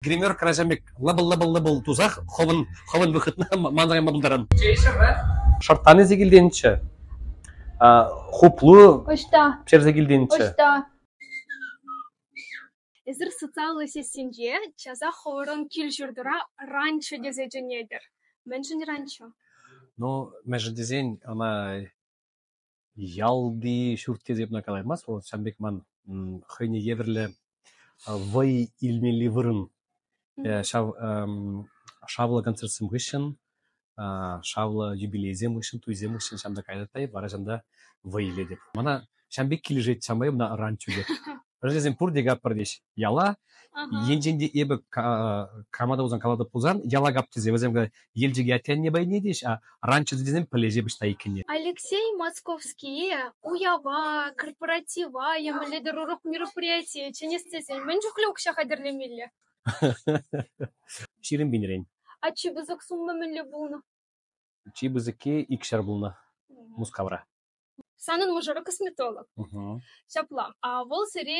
гримерка ачам пек лӑпӑл-лӑпӑл-лӑпӑл тусах хӑвӑн хӑвӑн выхӑтна манрайма пултаран. Шӑрттани се килтенччӗ. Хуплу ӑҫта черсе килтенччӗ. Ӑҫта Эсир социаллӑ сетьсенче часах хӑвӑрӑн кил-ҫуртӑра ранчо тесе чӗнетӗр. Мӗншӗн ранчо? Ну, мӗншӗн тесен ӑна Ялти ҫурт тесе эп ӑна калаймастӑп, вӑл ҫавӑн пек ман хӑйне евӗрлӗ вӑй илмелли вырӑн. Ҫав шавлӑ концертсем хыҫҫӑн, шавлӑ юбилейсем хыҫҫӑн, туйсем хыҫҫӑн ҫам та кайрӑттайӑп, вара ҫам та вӑй илетӗп. Мана ҫам пек килӗшет, ҫавӑнпа эп ӑна ранчо тетӗп. Ачасем пурте каппӑртӗҫ яла. Енчен те эпӗ крамада пулсан, калатӑп пулсан, яла кап тесе вӗсем Елчӗке атте пайне тӗҫ, а раньше тесем пӗлӗҫе пуҫта иккенне. Алексей Московские уява, корпоратива емеллетер урӑх мероприятие чӗнес тесен мӗн чухлӗ укҫа хатӗрлемелле? Ҫирӗм пинрен. А чи пысӑк сумма мӗнле пулнӑ? Чи пысӑкки икҫӗр пулнӑ Мускавра. Санӑн мӑшӑру косметолог. Ҫапла. А вӑл сире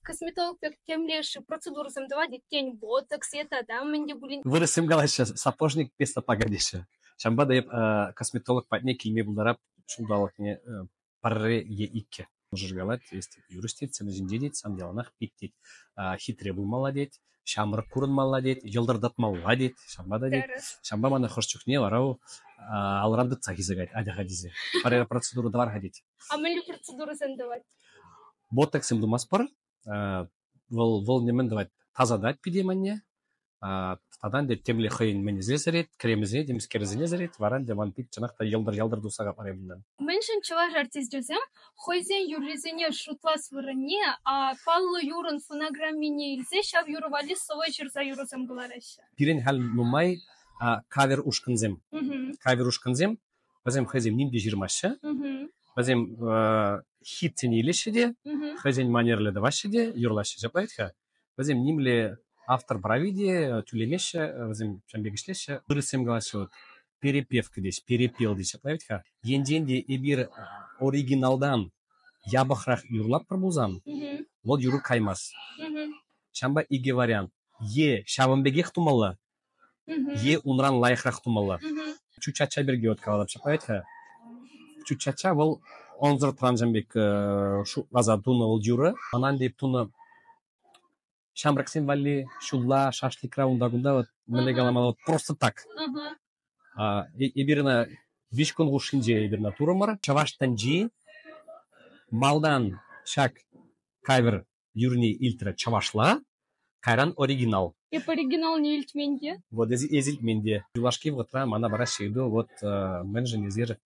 косметолог пек темле процедурӑсем тӑвать иккен, ботокс е тата мӗн те пулин. Вырӑссем калаҫҫӗ, сапожник без сапога теҫҫӗ. Ҫавӑнпа та эп косметолог патне килме пултарап ҫулталӑкне пӗрре е иккӗ. Мӑшӑр калать, есть юрист тет, сана ҫинче тет, сан яланах пит тет, хитре пулмалла тет. ҫамрӑк курӑнмалла тет, йӑлтӑртатмалла тет, ҫавӑнпа та тет. Ҫавӑнпа мана хӑш чухне вара алран тытса хисекать, атя-ха тесе. Пӗр процедура тӑвар-ха тет. А мӗнле процедурӑсем тӑвать? Ботоксем тумастпӑр. Вӑл вӑл нимӗн тӑвать, тасатать пире манне. Тата ӗнтӗ темле хӑйӗн мӗнӗсене сӗрет, кремӗсене, темскерӗсене сӗрет, вара ӗнтӗ ман пит чӑнах та йӑлтӑр-йӑлтӑр туса капарӗ унтан. Мӗншӗн чӑваш артисчӗсем хӑйсен юррисене шутлас вырӑнне паллӑ юрӑн фонограммине илсе ҫав юрӑ валли сӑвӑ ҫырса юрӑсем кӑлараҫҫӗ. Пирӗн халь нумай кавер ушкӑнсем. Кавер ушкӑнсем вӗсем хӑйсем ним те ҫырмаҫҫӗ. Вӗсем хитсене илеҫҫӗ те, хӑйсен манерлӗ тӑваҫҫӗ те, юрлаҫҫӗ. Ҫапла вӗт-ха? Вӗсем нимле автор прави те тӳлемеҫҫӗ, вӗсем ҫавӑн пек ӗҫлеҫҫӗ. Вырӑссем калаҫҫӗ вот перепевка теҫ, перепел теҫҫӗ, править-ха. Енчен те эпир оригиналдан япӑхрах юрлатпӑр пулсан, вӑл юрӑ каймасть. Ҫавӑнпа икӗ вариант. Е ҫавӑн пекех тумалла, Е унран лайӑхрах тумалла. Чучача пирки вот каланӑ ҫапать-ха. Чучача вӑл ӑнсӑр тӑвансем пек шутласа тунӑ вӑл юрӑ. Манан тейп тунӑ ҫамрӑксем валли ҫулла шашлыкра унта-кунта вот мӗнле каламалла вот просто так. Эпир ӑна виҫ кун хушшинче эпир ӑна турӑмӑр. Чӑваш тӗнчи малтан ҫак кавер юрни илтрӗ чӑвашла, кайран оригинал. Эп оригиналне илтмен те. Вот эти, эти илтмен те. Юлашки вӑхӑтра мана вара ҫырду вот мӗншӗн эсир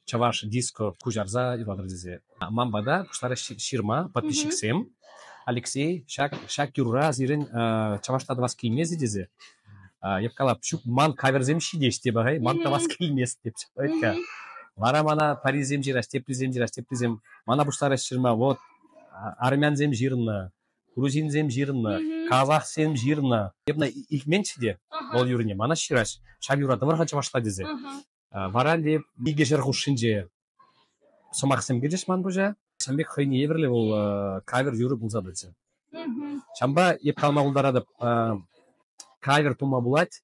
чӑваш диско куҫарса юрлатӑр тесе. Ман пата пуҫларӗҫ ҫырма подписчиксем. Алексей, ҫак ҫак юрра сирӗн чӑвашла тӑвас килмест тесе. Эп калап, ҫук ман каверсем ҫитеҫ те пахай, ман тӑвас килмест деп вара мана парисем ҫырас, теплисем ҫырас, теплисем мана пуҫларӗҫ ҫырма вот армянсем ҫырнӑ, грузинсем ҫырнӑ, казахсем ҫырнӑ. Я бы илтменччӗ те вӑл юрӑне, мана ҫыраҫ, ҫав юратӑмӑр-ха чӑвашла тесе. Вара те икӗ ҫӗр хушшинче сӑмахсем килчӗҫ ман пуҫа. Ҫын пек хӑйне евӗрлӗ вӑл кавер юрӑ пулса тӑчӗ. Ҫавӑнпа эп калама пултаратӑп, кавер тума пулать,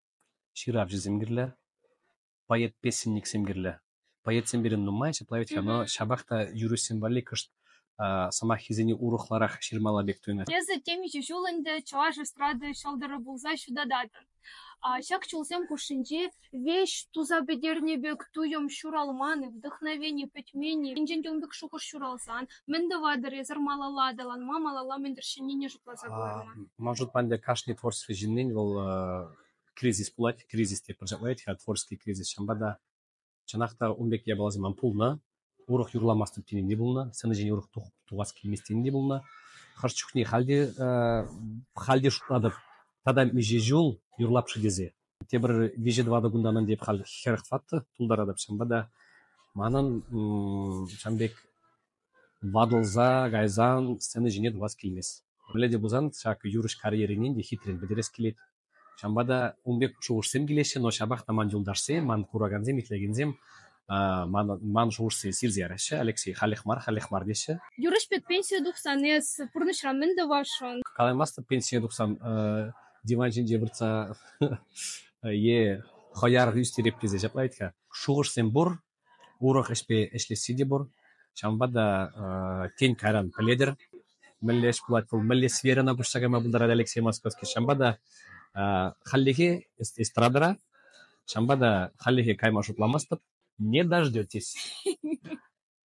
Ҫыравҫӑсем кирлӗ, поэт-песенниксем кирлӗ. Поэтсем пирӗн нумай, ҫапла вӗт-ха, но ҫапах та юрӑҫсем валли кӑшт сӑмаххисене урӑхларах ҫырмалла пек туйӑнать. Эсӗ темиҫе ҫул ӗнтӗ чӑваш эстрада ҫӑлтӑрӗ пулса ҫутататӑн. Ҫак чулсем хушшинче веҫ туса пӗтернӗ пек туйӑм ҫуралман-и, вдохновени пӗтмен-и, енчен те ун пек шухӑш ҫуралсан, Мӗн тӑватӑр эсӗр малалла аталанма, малалла мӗн тӗрӗсленнине шутласа кӑларма? Ман шутпа ӗнтӗ кашни творчество ҫыннин вӑл э, кризис пулать, кризис те пӗрчаклать-ха, творческий кризис. Ҫавӑнпа та чӑнах та ун пек япаласем ман пулнӑ. Урӑх юрламастӑп тенин те пулнӑ, сцена ҫине урӑх тухас килмест тенин те пулнӑ. Хӑш чухне халь те, э, халь те шутлатӑп, тата миҫе ҫул юрлап-ши тесе. тепӗр виҫӗ-тӑватӑ кунтан ӗнтӗ эп халь хӗрӗх тӑваттӑ, тултаратӑп ҫавӑнпа та. Манӑн ҫавӑн пек ватӑлса кайсан сцена ҫине тухас килмест. Мӗнле те пулсан ҫак юрӑҫ карьеринен те хитрен пӗтерес килет. Ҫавӑнпа та ун пек шухӑшсем килеҫҫӗ, но ҫапах та ман юлташсем, ман куракансем, итлекенсем ман шухӑшсене сирсе яраҫҫӗ Алексей халех мар халех мар теҫҫӗ. Юрӑҫ пек пенсие тухсан эс пурнӑҫра мӗн тӑвасшӑн? Калаймастӑп пенсие тухсан диван ҫинче выртса е хӑяр ӳстереп тесе ҫапла вӗт-ха. Шухӑшсем пур, урӑх ӗҫпе ӗҫлесси те пур. Ҫавӑнпа та тен кайран пӗлетӗр. мӗнле ӗҫ пулать вӑл, мӗнле сферӑна пуҫса кайма пултарать Алексей Московский. Ҫавӑнпа та хальлӗхе эстрадӑра, ҫавӑнпа та хальлӗхе кайма шутламастӑп, не дождетесь.